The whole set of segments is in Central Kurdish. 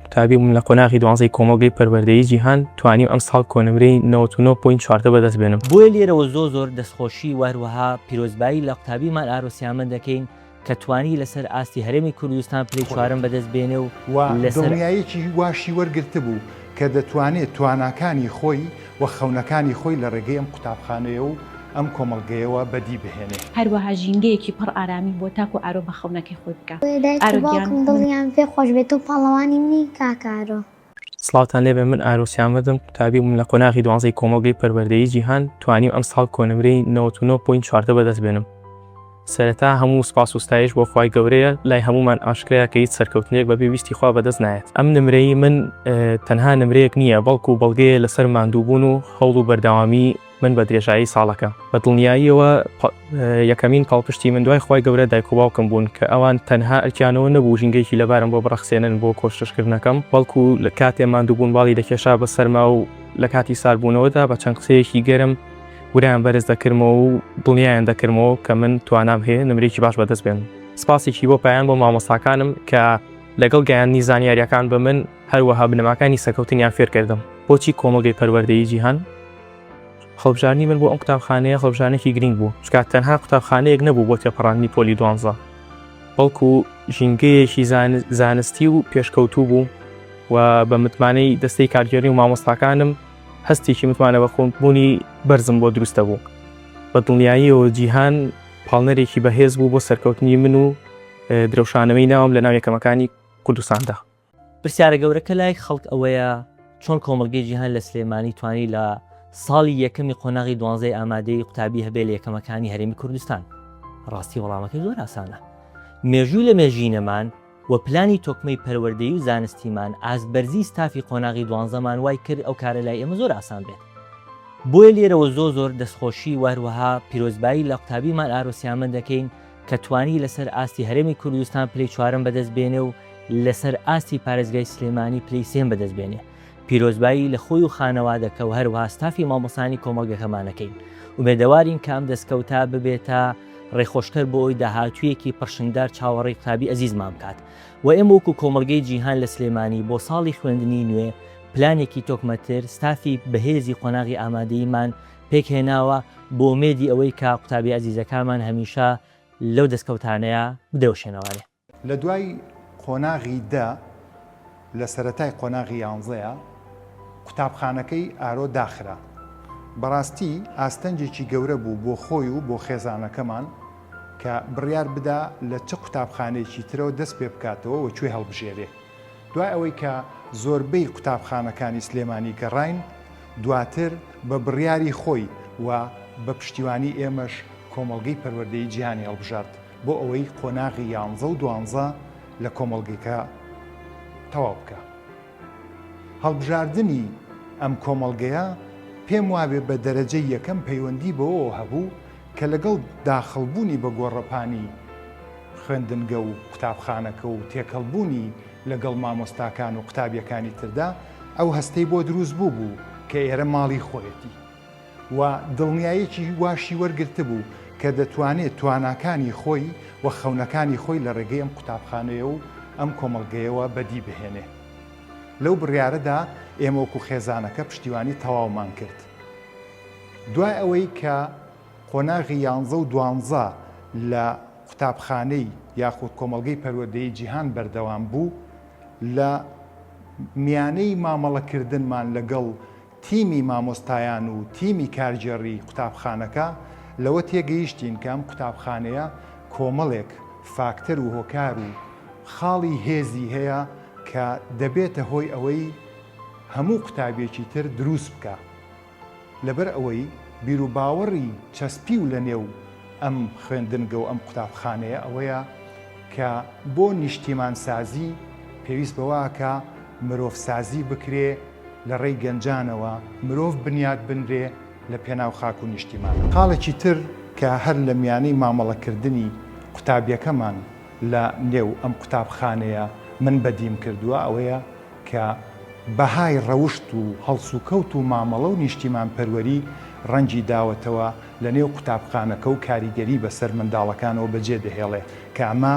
قوتابی بووم لە قۆناغی دوانزەی کۆمەڵگەی پەروەردەیی جیهان، توانیم ئەمساڵ کۆنمرەی نەوەد و نۆ پۆینت چواردە بەدەست بێنم. بۆیە لێرەوە زۆر زۆر دەستخۆشی و هەروەها پیرۆزبایی لە قوتابی مار ئارۆ سیامەند دەکەین کە توانی لەسەر ئاستی هەرێمی کوردستان پلەی چوارەم بەدەست بێنێ و لەسەر. و دڵنیایەکی واشی وەرگرتبوو کە دەتوانێ تواناکانی خۆی. و خەونەکانی خۆی لە ڕێگەی ئەم قوتابخانەیە و ئەم کۆمەڵگەیەوە بەدی بهێنێ. هەروەها ژینگەیەکی پڕ ئارامی بۆ تاک و ئارۆ بە خەونەکەی خۆی بکا. بۆیە دایک و باوکم دڵیان پێ خۆش بێ تۆ پاڵەوانی منی کاک ئارۆ. سڵاوتان لێبێ من ئارۆ سیامەردم قوتابی بووم لە قۆناغی دوانزەی کۆمەڵگەی پەروەردەیی جیهان توانیم ئەمساڵ کۆنمرەی نەوەت و نۆ پۆینت چواردە بەدەست بێنم. سەرەتا هەموو سوپاس و ستایش بۆ خوای گەورەیە لای هەموومان ئاشکرایە کە هیچ سەرکەوتنێک بەبێ ویستی خوا بەدەست نایەت ئەم نمرەی من تەنها نمرەیەک نییە بەڵکو بەڵگەیە لەسەر ماندووبوون و هەوڵ و بەردەوامی من بە درێژایی ساڵەکە بە دڵنیاییەوە یەکەمین پاڵپشتی من دوای خوای گەورە دایک و باوکم بوون کە ئەوان تەنها ئەرکیانەوە نەبوو ژینگەیەکی لەبارم بۆ بڕەخسێنن بۆ کۆششکردنەکەم بەڵکو لە کاتێ ماندووبوون باڵی دەکێشا بە سەرما و لە کاتی ساردبوونەوەدا بە چەند قسەیەکی گەرم ورەیان بەرز دەکردمەوە و دڵنیایان دەکردمەوە کە من توانام هەیە نمرەیەکی باش بەدەست بێنم. سپاسێکی بۆ پایان بۆ مامۆستاکانم کە لەگەڵ گەیاندنی زانیارییەکان بە من هەروەها بنەماکانی سەکەوتنیان فێر کردم. بۆچی کۆمەڵگەی پەروەردەیی جیهان؟ هەڵبژاردنی من بۆ ئەم قوتابخانەیە هەڵبژاردنێکی گرینگ بوو، چونکە تەنها قوتابخانەیەک نەبوو بۆ تێپەڕاندنی پۆلی دوانزە، بەڵکو ژینگەیەکی زانستی و پێشکەوتوو بوو و بە متمانەی دەستەی کارگێڕی و مامۆستاکانم، هەستێکی متمانە بەخۆبوونی بەرزم بۆ دروست دەبوو، بە دڵنیاییەوە جیهان پاڵنەرێکی بەهێز بوو بۆ سەرکەوتنی من و درەوشانەوەی ناوم لەناو یەکەمەکانی کوردستاندا. پرسیارە گەورەکە لای خەڵک ئەوەیە، چۆن کۆمەڵگەی جیهان لە سلێمانی توانی لە ساڵی یەکەمی قۆناغی دوانزەی ئامادەیی قوتابی هەبێ لە یەکەمەکانی هەرێمی کوردستان؟ ڕاستی وەڵامەکەی زۆر ئاسانە، مێژووی لە مێژینەمان و پلانی تۆکمەی پەروەردەیی و زانستیمان، ئاست بەرزی ستافی قۆناغی دوانزەمان وای کرد ئەو کارە لای ئێمە زۆر ئاسان بێت. بۆیە لێرەوە زۆر زۆر دەستخۆشی و هەروەها پیرۆزبایی لە قوتابی مار ئارۆ سیامەند دەکەین کە توانی لەسەر ئاستی هەرێمی کوردستان پلەی چوارەم بەدەست بێنێ و لەسەر ئاستی پارێزگای سلێمانی پلەی سێم بەدەست بێنێ پیرۆزبایی لە خۆی و خانەوادەکە و هەروەها ستافی مامۆستایانی کۆمەڵگەکەمان ئەکەین. ئومێدەوارین کە ئەم دەستکەوتە ببێتە ڕێخۆشکەر بۆ ئەوەی داهاتوویەکی پڕشنگدار چاوەڕێی قوتابی ئەزیزمان بکات و ئێمە وەکو کۆمەڵگەی جیهان لە سلێمانی بۆ ساڵی خوێندنی نوێ پلانێکی تۆکمەتر ستافی بەهێزی قۆناغی ئامادەییمان پێکهێناوە بۆ ئومێدی ئەوەی کە قوتابی ئەزیزەکانمان هەمیشە لەو دەستکەوتانەیە بدرەوشێنەوەێ. لە دوای قۆناغی دە لە سەرەتای قۆناغی یانزەیە قوتابخانەکەی ئارۆ داخرا. بەڕاستی ئاستەنگێکی گەورە بوو بۆ خۆی و بۆ خێزانەکەمان کە بڕیار بدا لە چ قوتابخانەیەکی ترەوە دەست پێ بکاتەوە و کوێ هەڵبژێرێ. دوای ئەوەی کە زۆربەی قوتابخانەکانی سلێمانی گەڕاین دواتر بە بڕیاری خۆی و بە پشتیوانی ئێمەش کۆمەڵگەی پەروەردەی جیهانی هەڵبژارد. بۆ ئەوەی قۆناغی یانزە و دوانزە لە کۆمەڵگەکە تەواو بکا. هەڵبژاردنی ئەم کۆمەڵگەیە پێم وابێ بە دەرەجەی یەکەم پەیوەندی بەوەوە هەبوو کە لەگەڵ داخڵبوونی بە گۆڕەپانی خوێندنگە و قوتابخانەکە و تێکەڵبوونی لەگەڵ مامۆستاکان و قوتابیەکانی تردا ئەو هەستەی بۆ دروست بووبوو کە ئێرە ماڵی خۆیەتی. و دڵنیایەکی واشی وەرگرتبوو کە دەتوانێت تواناکانی خۆی و خەونەکانی خۆی لە ڕێگەی ئەم قوتابخانەیە و ئەم کۆمەڵگەیەوە بەدی بهێنێ. لەو بڕیارەدا ئێمە وەکو خێزانەکە پشتیوانی تەواومان کرد. دوای ئەوەی کە قۆناغی یانزە و دوانزە لە قوتابخانەی یاخود کۆمەڵگەی پەروەردەیی جیهان بەردەوام بوو، لە میانەی مامەڵەکردنمان لەگەڵ تیمی مامۆستایان و تیمی کارگێڕیی قوتابخانەکە لەوە تێگەیشتین کە ئەم قوتابخانەیە کۆمەڵێک فاکتەر و هۆکار و خاڵی هێزی هەیە کە دەبێتە هۆی ئەوەی هەموو قوتابییەکی تر دروست بکا لەبەر ئەوەی بیروباوەڕی چەسپیو لەنێو ئەم خوێندنگە و ئەم قوتابخانەیە ئەوەیە کە بۆ نیشتیمانسازی پێویست بەوە ئەکا مرۆڤسازی بکرێ لە ڕێی گەنجانەوە مرۆڤ بنیات بنرێ لە پێناو خاک و نیشتیمان. خاڵێکی تر کە هەر لە میانەی مامەڵە کردنی قوتابیەکەمان لە نێو ئەم قوتابخانەیە من بەدیم کردوە ئەوەیە کە بەهای ڕەوشت و هەڵسوکەوت و مامەڵە و نیشتیمان پەروەری ڕەنگی داوەتەوە لە نێو قوتابخانەکە و کاریگەری بە سەر منداڵەکانەوە بە جێ دەهێڵێ کە ئەمە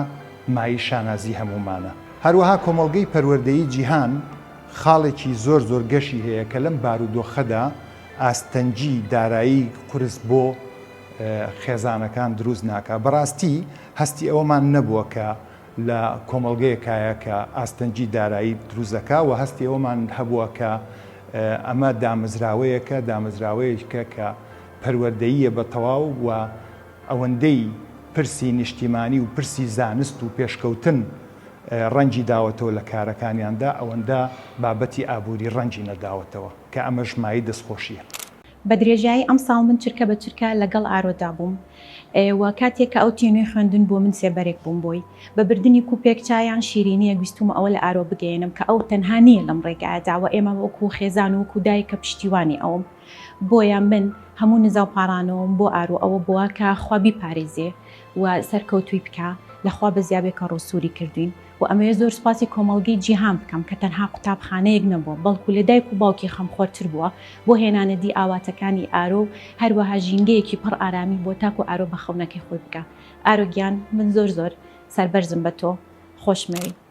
مایەی شانازی هەموومانە. هەروەها کۆمەڵگەی پەروەردەیی جیهان، خاڵێکی زۆر زۆر گەشی هەیە کە لەم بارودۆخەدا ئاستەنگی دارایی قورس بۆ خێزانەکان دروست ناکا. بەڕاستی هەستی ئەوەمان نەبووە کە لە کۆمەڵگەیەکایە کە ئاستەنگی دارایی دروست دەکا و هەستی ئەوەمان هەبووە کە ئەمە دامەزراوەیەکە، دامەزراوەیەکە کە پەروەردەییە بە تەواو و ئەوەندەی پرسی نیشتیمانی و پرسی زانست و پێشکەوتن، ڕەنگی داوەتەوە لە کارەکانیاندا، ئەوەندە بابەتی ئابووری ڕەنگی نەداوەتەوە، کە ئەمەش مایەی دەستخۆشییە. بە درێژایی ئەمساڵ من چرکە بە چرکە لەگەڵ ئارۆدا بووم و کاتێک کە ئەو چوویە نوێی خوێندن بۆ من سێبەرێک بووم بۆی. بە بردنی کوپێک چا یان شیرینییەک ویستوومە ئەوە لە ئارۆ بگەیەنم کە ئەو تەنها نییە لەم ڕێگایەدا و ئێمە وەکوو خێزان و وەکوو دایک کە پشتیوانی ئەوم. بۆیە من هەموو نزا و پاڕانەوەم بۆ ئارۆ ئەوە بووە کە خوا بیپارێزێ و سەرکەوتوی بکە لەخوا بەزیابێ کە ڕوو سوری کردوین و ئەمەوێ زۆر سوپاسی کۆمەڵگەی جیهان بکەم کە تەنها قوتابخانەیەک نەبووە بەڵکو لە دایک و باوکی خەمخۆر تر بووە بۆ هێنانە دی ئاواتەکانی ئارۆ و هەروەها ژینگەیەکی پڕ ئارامی بۆ تاکو ئارۆ بە خەونەکەی خۆی بگا ئارۆ گیان من زۆر زۆر سەربەرزم بە تۆ خۆشمەوی.